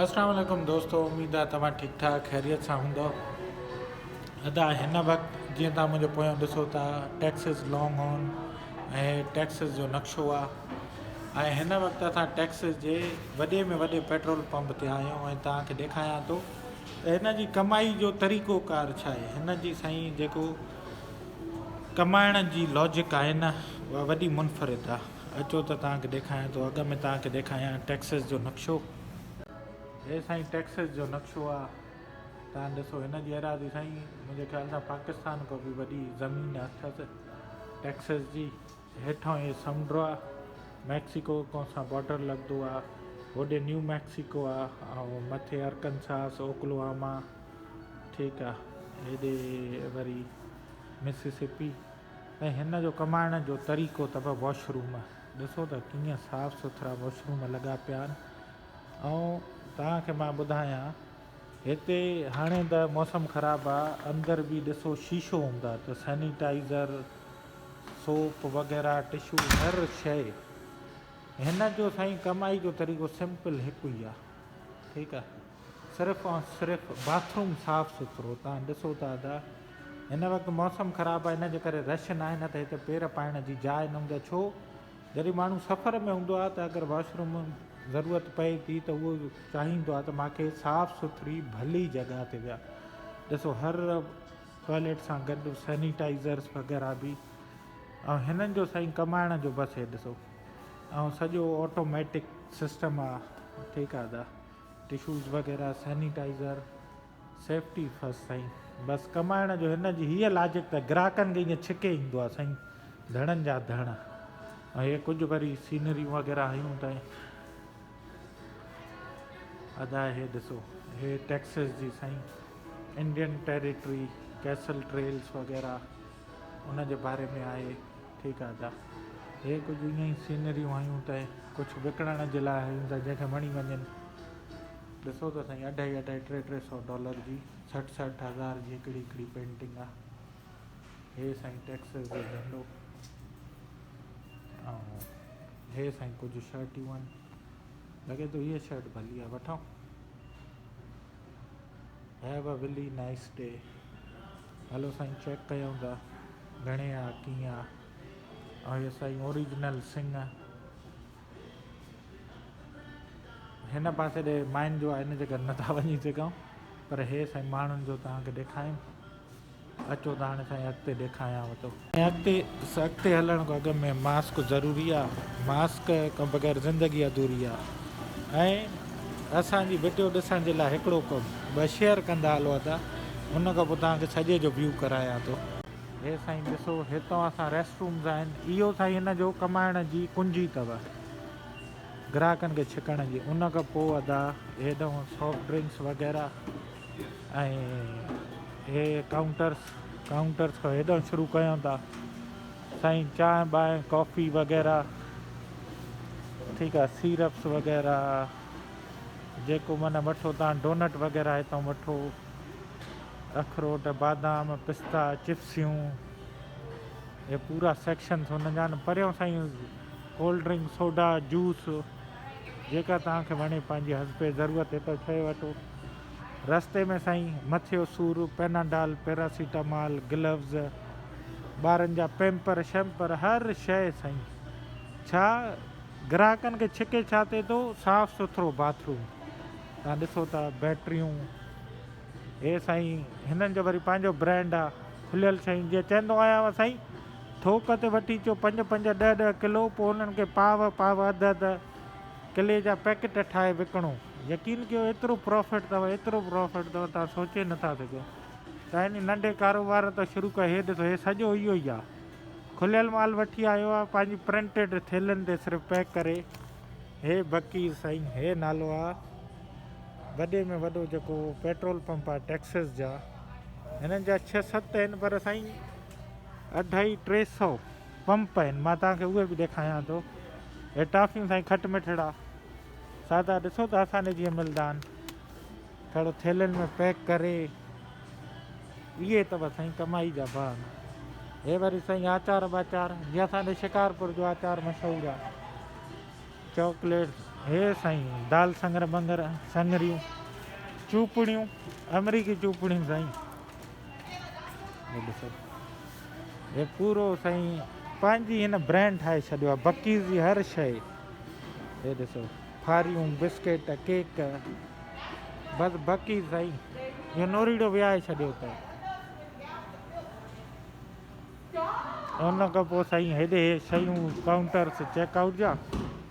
اسلام عليڪم دوستو اميد آ توھان ٺيڪ ٺاڪ خيريت سان ھوندؤ ادا ھن وقت جيئن توھان منھنجو پويان ڏسو ٿا ٽيڪسز لانگ ھارن ۽ ٽيڪسز جو نقشو آ ۽ ھن وقت اسان ٽيڪسز جي وڏي ۾ وڏي پيٽرول پمپ تي آھيون ۽ توھان کي ڏيکايان ٿو ته ھن جي ڪمائي جو طريقو ڪار ڇا آھي ھن جي سائين جيڪو ڪمائڻ جي لاجڪ آھي نه اھا وڏي منفرد آ اچو ته توهان کي ڏيکاريان ٿو اڳ ۾ توهان کي ڏيکاريان ٽيڪسز جو نقشو هي سائين ٽيڪسز جو نقشو آ توهان ڏسو هن جي ايراضي سائين منهنجي خيال سان پاڪستان کان به وڏي زمين اٿس ٽيڪسز جي هيٺان هي سمنڊ آ ميڪسيڪو کان سان بارڊر لڳندو آ هوڏي نيو ميڪسيڪو آ ۽ مٿي ارڪنساس اوڪلوهاما ٺيڪ آ هيڏي وري مسيسپي ۽ هن جو ڪمائڻ جو طريقو ته به واش روم ڏسو ته ڪيئن صاف سٿرا واش روم لڳا پيا آهن ۽ توهان کي مان ٻڌايان هتي هاڻي ته موسم خراب آهي اندر به ڏسو شيشو هوندا ته سينيٽائزر سوپ وغيره ٽشو هر شيء هن جو سائين ڪمائي جو طريقو سمپل هڪ ئي آهي ٺيڪ آهي صرف ۽ صرف باٿ روم صاف سٿرو تان ڏسو ته ادا هن وقت موسم خراب آهي ان جي ڪري رش ناهي نه ته هتي پير پائڻ جي جاء نه هوندي ڇو جڏهن ماڻهو سفر ۾ هوندو آهي ته اگر واش روم ضرورت پئي ٿي ته اهو چاهيندو آهي ته ماکي صاف سٿري ڀلي جڳهه تي ويا ڏسو هر ٽوائليٽ سان گڏ سينيٽائزرس وغيرها به ۽ هنن جو سائين ڪمائڻ جو بس هي ڏسو ۽ سڄو آٽوميٽڪ سسٽم آهي ٺيڪ آهي ادا ٽشوز وغيره سينيٽائزر سيفٽي فرسٽ سائين بس ڪمائڻ جو هن جي هيء لاجڪ ته گراهڪن کي ايئن ڇڪي ايندو آهي سائين ڌڻن جا ڌڻ ۽ هي ڪجهه وري سينريون وغيره هيون ته ادا هي ڏسو هي ٽيڪسس جي سائين انڊين ٽيريٽري ڪيسل ٽريلس وغيره ان جي باري ۾ آهي ٺيڪ آهي ته هي ڪجهه ائين ئي سينريون هيون ته ڪجهه وڪڻڻ جي لاء هيون ته جنهن کي وڻي وڃن ڏسو ته سائين اڍائي اڍائي ٽي ٽي سئو ڊالر جي سٺ سٺ هزار جي هڪڙي هڪڙي پينٽنگ آهي هي سائين ٽيڪسز جو ڌنڌو ۽ هي سائين ڪجهه شرٽيون آهن لڳي ٿو هيء شرٽ ڀلي آهي وٺان have a very nice day hello سائين چيڪ ڪيون ٿا گهڻي آ ڪيئن آ ۽ هي سائين اوريجنل سنگ هن پاسي ڏي مائن جو آ هن جي گهر نه ٿا وڃي سگهون پر هي سائين ماڻهن جو تهان کي ڏيکايون اچو ته هاڻي سائين اڳتي ڏيکايانو ٿو. اڳتي اڳتي هلڻ کان اڳ ۾ ماسڪ ضروري آ. ماسڪ کان بغير زندگي اڌوري آ. ۽ اسان جي وڊيو ڏسڻ جي لاء هڪڙو ڪم ٻه شيئر ڪندا هلو ادا ان کان پوء توهان کي سڄي جو ويو ڪرايان ٿو. هي سائين ڏسو هتان اسان ريسٽ رومز آهن اهو سائين هن جو ڪمائڻ جي ڪنجي اٿو گراهڪن کي ڇڪڻ جي ان کان پوء ادا هيڏانهن سافٽ ڊرنڪس وغيره. ۽ هي ڪائونٽرس ڪائونٽرس کان هيڏانهن شروع ڪيون ٿا سائين چانهه بانهه ڪافي وغيره ٺيڪ آهي سيرپس وغيره جيڪو من وٺو تان ڊونٽ وغيره هتان وٺو اخروٽ بادام پستا چپسيون اهي پورا سيڪشنس هن جا پريو سائين ڪولڊ ڊرنڪ سوڊا جوس جيڪا توهان کي وڻي پنهنجي حسب ضرورت هتان شيء وٺو. رستي ۾ سائين مٿي جو سور، پيناڊال، پيراسيٽامال، گلوز، ٻارن جا پيمپر شيمپر هر شيء سائين ڇا گراهڪن کي ڇڪي ڇاتي ٿو صاف سٿرو باٿ روم توهان ڏسو ٿا بيٽريون هي سائين هنن جو وري پنهنجو برانڊ آ کليل شيون جيئن چوندو آهيان سائين ٿوڪ تي وٺي اچو پنج پنج ڏهه ڏهه ڪلو پوء انهن کي پاء پاء اڌ اڌ ڪلي جا پيڪٽ ٺاهي وڪڻو يقين ڪيو ايترو پرافٽ اٿو ايترو پرافٽ اٿو توهان سوچي نٿا سگهو توهان انهي ننڍي ڪاروبار اٿو شروع ڪيو هي ڏسو هي سڄو اهو ئي آ کليل مال وٺي آيو آ پنهنجي پرنٽيڊ ٿيلهن تي صرف پيڪ ڪري هي بڪير سائين هي نالو آ وڏي ۾ وڏو جيڪو پيٽرول پمپ آ ٽيڪسز جا هنن جا ڇهه ست آهن پر سائين اڍائي ٽي سئو پمپ آهن مان توهان کي اهي به ڏيکاريان ٿو هي ٽافيون سائين کٽ مٺڙا سادا ڏسو ته آساني جيئن ملدا آهن ٿورو ٿيلن ۾ پيڪ ڪري اهي ته بس سائين ڪمائي جا بهان هي وري سائين آچار ٻاچار جي اسان شڪارپور جو آچار مشهور آهي چاڪليٽ هي سائين دال سنگر بنگر سنگريون چوپڙيون امريڪي چوپڙيون سائين هي ڏسو هي پورو سائين پنهنجي هن برانڊ ٺاهي ڇڏيو آهي بڪيز جي هر شيء هي ڏسو ڦاريون بسڪيٽ ڪيڪ بس بڪي سائين جو نوريڙو ويهائي ڇڏيو اٿئي ان کان پوء سائين هيڏي هي شيون ڪائونٽرس چيڪ آئوٽ جا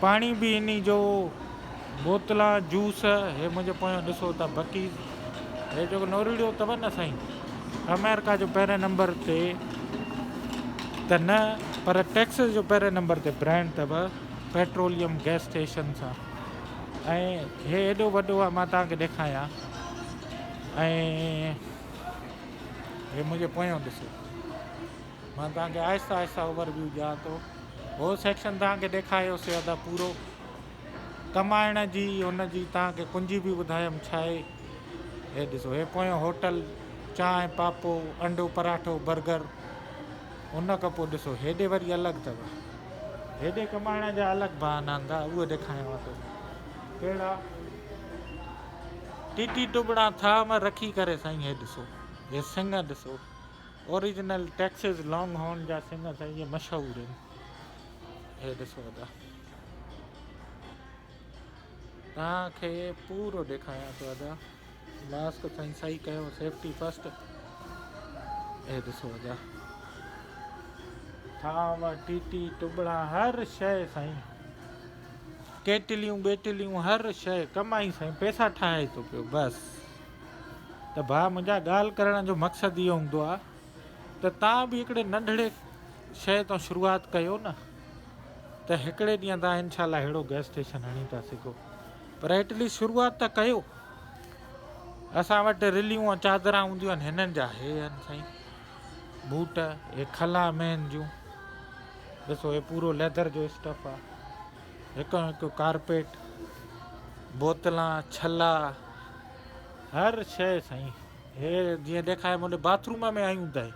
پاڻي به انهي جو هو. بوتلان، جوس، هي منهنجي پويان ڏسو ته بڪيز هي جيڪو نورڙيو اٿو نه سائين آمريڪا جو پهرين نمبر تي ته نه پر ٽيڪسز جو پهرين نمبر تي برانڊ اٿو پيٽروليم گيس اسٽيشن سان ۽ هي ايڏو وڏو آ مان توهان کي ڏيکايان ۽ هي منهنجي پويان ڏسو. مان توهان کي آهستي آهستي اوور ويو ڏيان ٿو. هو سيڪشن توهان کي ڏيکاريو سي ادا پورو ڪمائڻ جي ان جي توهان کي ڪنجي به ٻڌايم ڇا اهي هي ڏسو هي پويون هوٽل چانهه پاپو انڊو پراٺو برگر ان کان پوء ڏسو هيڏي وري الڳ اٿو هيڏي ڪمائڻ جا الڳ بهانا هوندا اهي ڏيکاريان ٿو ڪهڙا ٽي ٽي ٽٻڻا ٿا م رکي ڪري سائين هي ڏسو هي سنگ ڏسو اوريجنل ٽيڪسز لانگ هارن جا سنگ سائين جي مشهور آهن هي ڏسو ادا توهان کي پورو ڏيکاريان ٿو ادا ماسڪ سائين صحيح ڪيو سيفٽي فسٽ هي ڏسو ادا ٿام ٽي ٽي ٽبڙا هر شي سائين ڪيٽليون ٻيٽليون هر شي ڪمائي سائين پيسا ٺاهي ٿو پيو بس ته ڀاء منهنجا ڳالهه ڪرڻ جو مقصد اهو هوندو آهي ته تان به هڪڙي ننڍڙي شيء تان شروعات ڪيو نه ته هڪڙي ڏينهن تان انشاء الله ههڙو گئس اسٽيشن هڻي ٿا سگهو پر ايٽ ليسٽ شروعات ته ڪيو اسان وٽ رليون ۽ چادرا هونديون آهن هنن جا هي آهن سائين بوٽ هي کلا مين جون ڏسو هي پورو ليدر جو اسٽف آهي هڪ هڪ ڪارپيٽ، بوتلان، ڇلا، هر شيء سائين هي جيئن ڏيکاري مون باٿ روم ۾ آيون تائين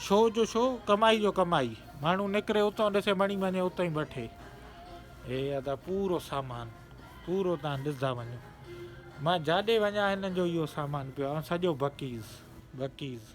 شو جو شو ڪمائي جو ڪمائي ماڻهو نڪري اتان ڏسي مڻي وڃي اتان ئي وٺي هي ادا پورو سامان پورو تان ڏسدا وڃو مان جاڏي وڃا هنن جو اهو سامان پيو سڄو بڪيز بڪيز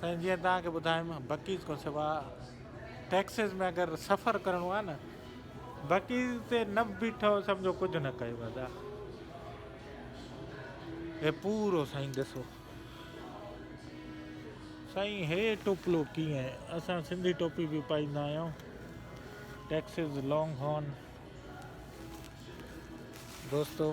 سائين جيئن توهان کي ٻڌايم بڪيز کان سوا ٽيڪسز ۾ اگر سفر ڪرڻو آهي نه بڪيز تي نه بيٺو سمجهو ڪجهه نه ڪيو ادا هي پورو سائين ڏسو سائين هي ٽوپلو ڪيئن اسان سنڌي ٽوپي به پائيندا آهيون ٽيڪسز لانگ هارن دوستو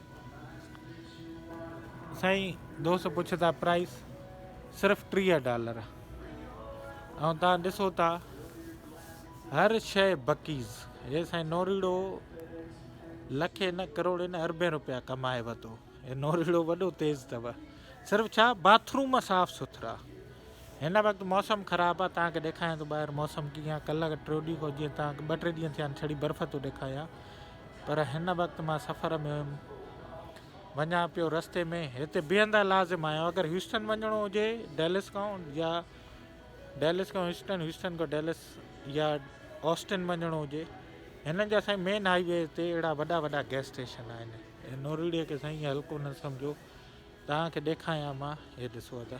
سائين دوست پڇ ٿا پرائس صرف ٽيهه ڊالر ۽ تان ڏسو ٿا هر شئي بڪيز هي سائين نوريڙو لکين نه ڪروڙين اربين روپيا ڪمائي وتو هي نوريڙو وڏو تيز ٿو صرف ڇا باٿ روم صاف سٿرا هن وقت موسم خراب آ تان کي ڏيکايان ته ٻاهر موسم ڪيئن ڪلهه ٽيو ڏينهن کان جيئن تان ٻه ٽي ڏينهن ٿيا آهن ڇڙي برف ٿو ڏيکايان پر هن وقت مان سفر ۾ هيم وڃان پيو رستي ۾ هتي بيهندا لازم آهيان اگر هيوسٽن وڃڻو هجي ڊيلس کان يا ڊيلس کان هيوسٽن هيوسٽن کان ڊيلس يا آسٽن وڃڻو هجي هنن جا سائين مين هاء وي تي اهڙا وڏا وڏا گيس اسٽيشن آهن نورڙي کي سائين هلڪو نه سمجهو تان کي ڏيکايان مان هي ڏسو ادا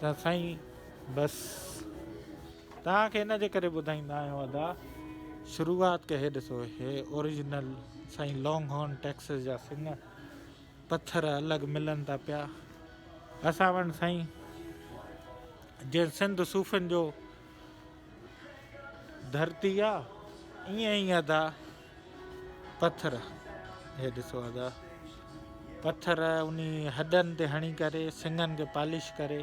ته سائين بس توهان کي ان جي ڪري ٻڌائيندا آهيون ادا شروعات کي هي ڏسو هي اوريجنل سائين لانگ هارن ٽيڪسس جا سنگ پٿر الڳ ملن ٿا پيا اسان وٽ سائين جن سنڌ صوفن جو ڌرتي آ ائين ئي ادا پٿر، هي ڏسو آغا! پٿر انهي هڏن تي هڻي ڪري سڱن کي پالش ڪري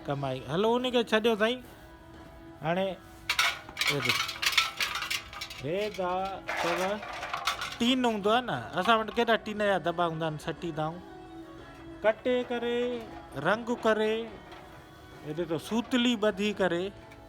ڪم آئي. هلو انهي کي ڇڏيو سائين. هاڻي هي ڏس. هي جا تر ٽين هوندو آهي نه، اسان وٽ ڪيڏا ٽين جا دٻا هوندا آهن سٽي دائون ڪٽي ڪري رنگ ڪري هي ڏسو سوتلي ٻڌي ڪري.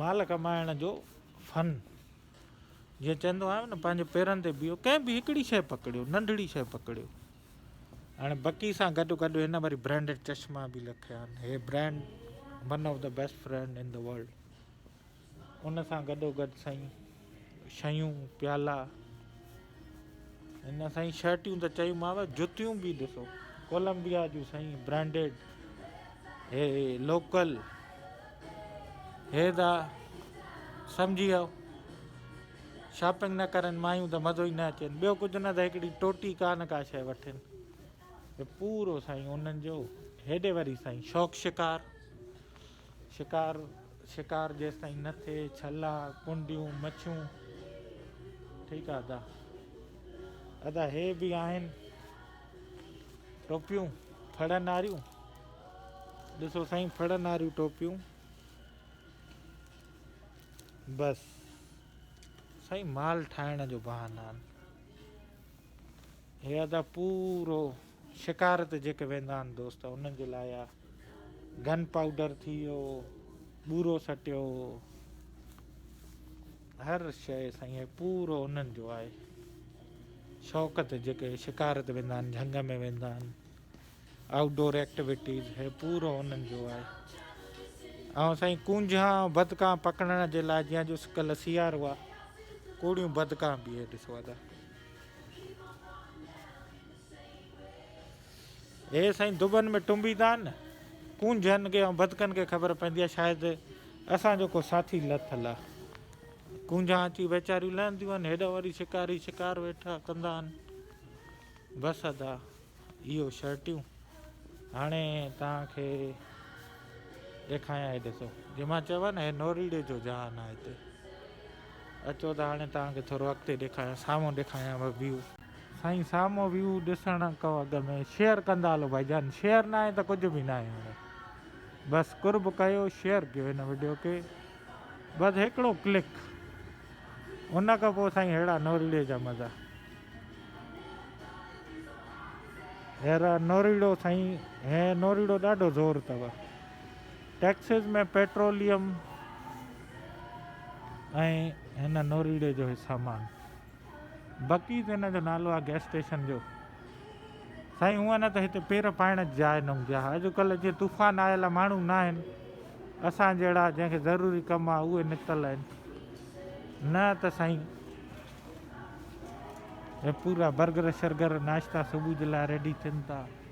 مال ڪمائڻ جو فن، جيئن چوندو آهيان نه پنهنجي پيرن تي بيهو، ڪنهن به هڪڙي شيء پڪڙيو، ننڍڙي شيء پڪڙيو، هاڻي بڪي سان گڏو گڏ هن وري برانڊيڊ چشما به لکيا آهن، هي brand one of the best friend in the world, ان سان گڏو گڏ سائين شيون پيالا هن سائين شرٽيون ته چيمانو جتيون به ڏسو ڪولمبيا جون سائين برانڊيڊ هي لوڪل هي دا سمجھي ويو شاپنگ نه ڪرن مايون ته مزو ئي نه اچن ٻيو ڪجھه نه ته هڪڙي ٽوٽي ڪا نه ڪا شي وٺن پورو سائين انهن جو هيڏي وري سائين شوق شڪار شڪار شڪار جيستائين نه ٿئي ڇلا ڪنڊيون مڇون ٺيڪ آ ادا ادا هي به آهن ٽوپيون ڦڙن واريون ڏسو سائين ڦڙن واريون ٽوپيون بس سائين مال ٺاهڻ جو بهانو آهن هي ادا پورو شڪار تي جيڪي ويندا آهن دوست انهن جي لاء آهي گن پائوڊر ٿي ويو، ٻورو سٽيو، هر شيء سائين پورو انهن جو آهي. شوق تي جيڪي شڪار تي ويندا آهن، جهنگ ۾ ويندا آهن، آئوٽ ڊور ايڪٽيويٽيز هي پورو انهن جو آهي. ۽ سائين ڪونجها بدڪان پڪڙڻ جي لاء جيئن جو سڪل سيارو آهي، ڪوڙيون بدڪان به هي ڏسو ادا. اهي سائين دٻن ۾ ٽنبيندا آهن نه ڪونجهن کي ۽ بدڪن کي خبر پوندي آهي شايد اسان جو ڪو ساٿي لٿل آهي ڪونجهان اچي ويچاريون لهنديون آهن هيڏانهن وري شڪاري شڪار ويٺا ڪندا آهن بس ادا اهو شرٽيون هاڻي توهان کي ڏيکايان هي ڏسو جي مان چيو آهي نه هي نوريڙي جو جهان آهي هتي اچو ته هاڻي توهان کي ٿورو اڳتي ڏيکايان سامهون ڏيکايان ويو سائين سامو ويو ڏسڻ ڪو اڳ ۾ شيئر ڪندا هلو ڀائي جان شيئر ناهي ته ڪجهه به ناهي هاڻي بس قرب ڪيو شيئر ڪيو هن ويڊيو کي بس هڪڙو ڪلڪ ان کان پوء سائين ههڙا نوريڙي جا مزا هيرا نوريڙو سائين هي نوريڙو ڏاڍو زور اٿو ٽيڪسز ۾ پيٽروليم ۽ هن نوريڙي جو هي سامان بڪيز ان جو نالو آ گئس اسٽيشن جو. سائين هونئن نه ته هتي پير پائڻ جي جاء نه هوندي آهي. اڄڪلهه جيئن طوفان آيل آ ماڻهو نه آهن. اسان جهڙا جنهن کي ضروري ڪم آ اهي نڪتل آهن. نه ته سائين هي پورا برگر شرگر ناشتا صبح جي لاء ريڊي ٿين ٿا.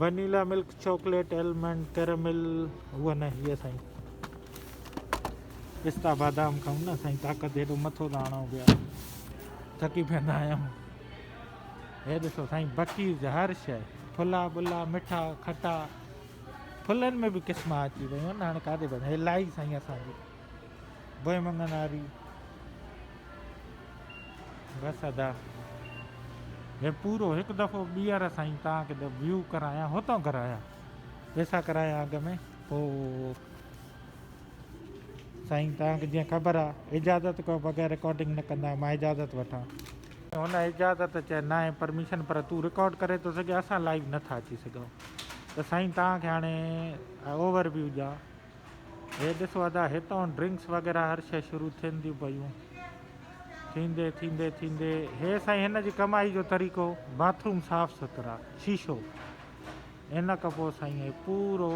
Vanilla milk chocolate almond caramel هو نه هي سائين پستا بادام کائون نه سائين طاقت هيڏو مٿو ٿا آڻو پيا ٿڪي پيندا آهيون هي ڏسو سائين بڪير جا هر شي ڦلا ٻلا مٺا کٽا ڦلن ۾ به قسم اچي ويون هاڻي ڪاڏي وڃ هي لائي سائين اسان جي بوء منگن آري بس ادا هي پورو هڪ دفعو ٻيهر سائين تان کي ويو ڪرايا هتو ڪرايا پيسا ڪرايا اڳ ۾ پو سائين تان کي جي خبر آ اجازت کو بغير ريڪارڊنگ نه ڪندا ما اجازت وٺا هن اجازت چي نه آهي پرميشن پر تون رڪارڊ ڪري ٿو سگهي اسان لائيو نٿا اچي سگهون ته سائين تان کي هاڻي اوور ويو ڏيان هي ڏس ودا هتئون ڊرنڪس وغيره هر شي شروع ٿينديون پيون ٿيندي ٿيندي ٿيندي هي سائين هن جي ڪمائي جو طريقو باٿروم صاف سٿرا شيشو ان کان پوء سائين هي پورو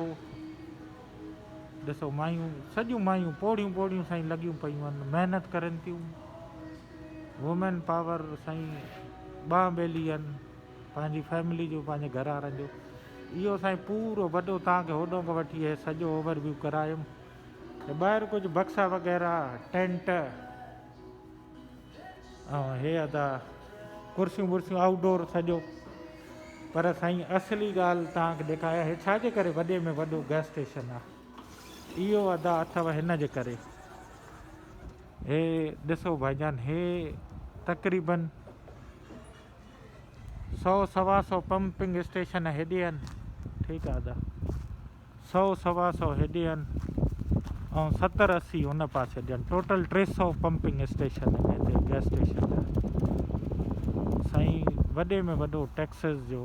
ڏسو مايون سڄيون مايون پوڙهيون پوڙهيون سائين لڳيون پيون آهن محنت ڪرن ٿيون وومين پاور سائين ٻانهه ٻيلي آهن پنهنجي فيملي جو پنهنجي گهروارن جو اهو سائين پورو وڏو تان کي هوڏو کان وٺي هي سڄو اوور ويو ڪرايم ته ٻاهر ڪجهه بکسا وغيره ٽينٽ ۽ هي ادا ڪرسيون ورسيون آؤٽ ڊور سڄو پر سائين اصلي ڳالهه تانکي ڏيکاريا هي ڇا جي ڪري وڏي ۾ وڏو گئس اسٽيشن آ اهو ادا اٿو هن جي ڪري هي ڏسو ڀائيجان هي تقريبن سؤ سوا سؤ پمپنگ اسٽيشن هيڏي هن ٺيڪ آ ادا سؤ سوا سؤ هيڏي هن ۽ ستر اسي هن پاسي ڏين ٽوٽل ٽي سؤ پمپنگ اسٽيشن هن هتي گيس اسٽيشن سائين وڏي ۾ وڏو ٽيڪسز جو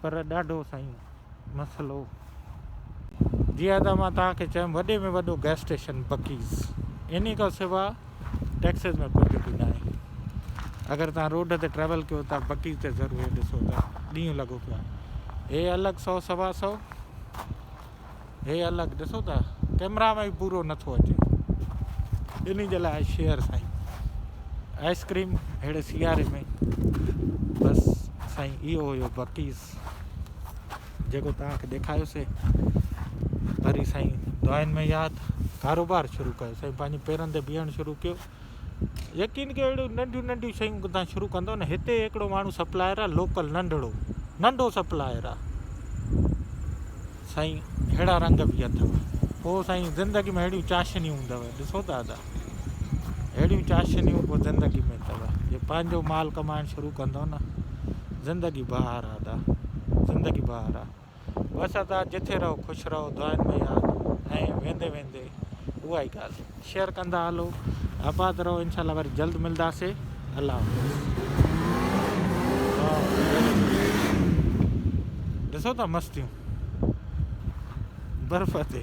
پر ڏاڍو سائين مسئلو جي ادا مان توهان کي چيم وڏي ۾ وڏو گئس اسٽيشن بڪيز انهي کان سوا ٽيڪسز ۾ ڪجهه به ناهي اگر توهان روڊ تي ٽريول ڪيو ته بڪيز تي ضرور ڏسو ته ڏينهن لڳو پيو اهي الڳ سو سوا سو هي الڳ ڏسو ته ڪيمرا ۾ به پورو نه ٿو اچي انهي جي لاء شيئر سائين آئس ڪريم ههڙي سياري ۾ بس سائين اهو هيو بڪيز جيڪو توهان کي ڏيکايوسي وري سائين دعائن ۾ ياد ڪاروبار شروع ڪيو سائين پنهنجي پيرن تي بيهڻ شروع ڪيو يقين ڪيو اهڙيون ننڍيون ننڍيون شيون تان شروع ڪندو نه هتي هڪڙو ماڻهو سپلائر آ لوڪل ننڍڙو ننڍو سپلائر آ سائين ههڙا رنگ به اٿم پوء سائين زندگي ۾ ههڙيون چاشنيون هوندو ڏسو ته ادا ههڙيون چاشنيون پوء زندگي ۾ اٿو جي پنهنجو مال ڪمائڻ شروع ڪندو نه زندگي بهار آ ادا زندگي بهار آ بس ادا جتي رهو خوش رهو دعائن ۾ ياد ۽ ويندي ويندي اها ئي ڳالهه شيئر ڪندا هلو آباد رهو انشاء الله وري جلد ملنداسي الله ڏسو ٿا مستيون برف تي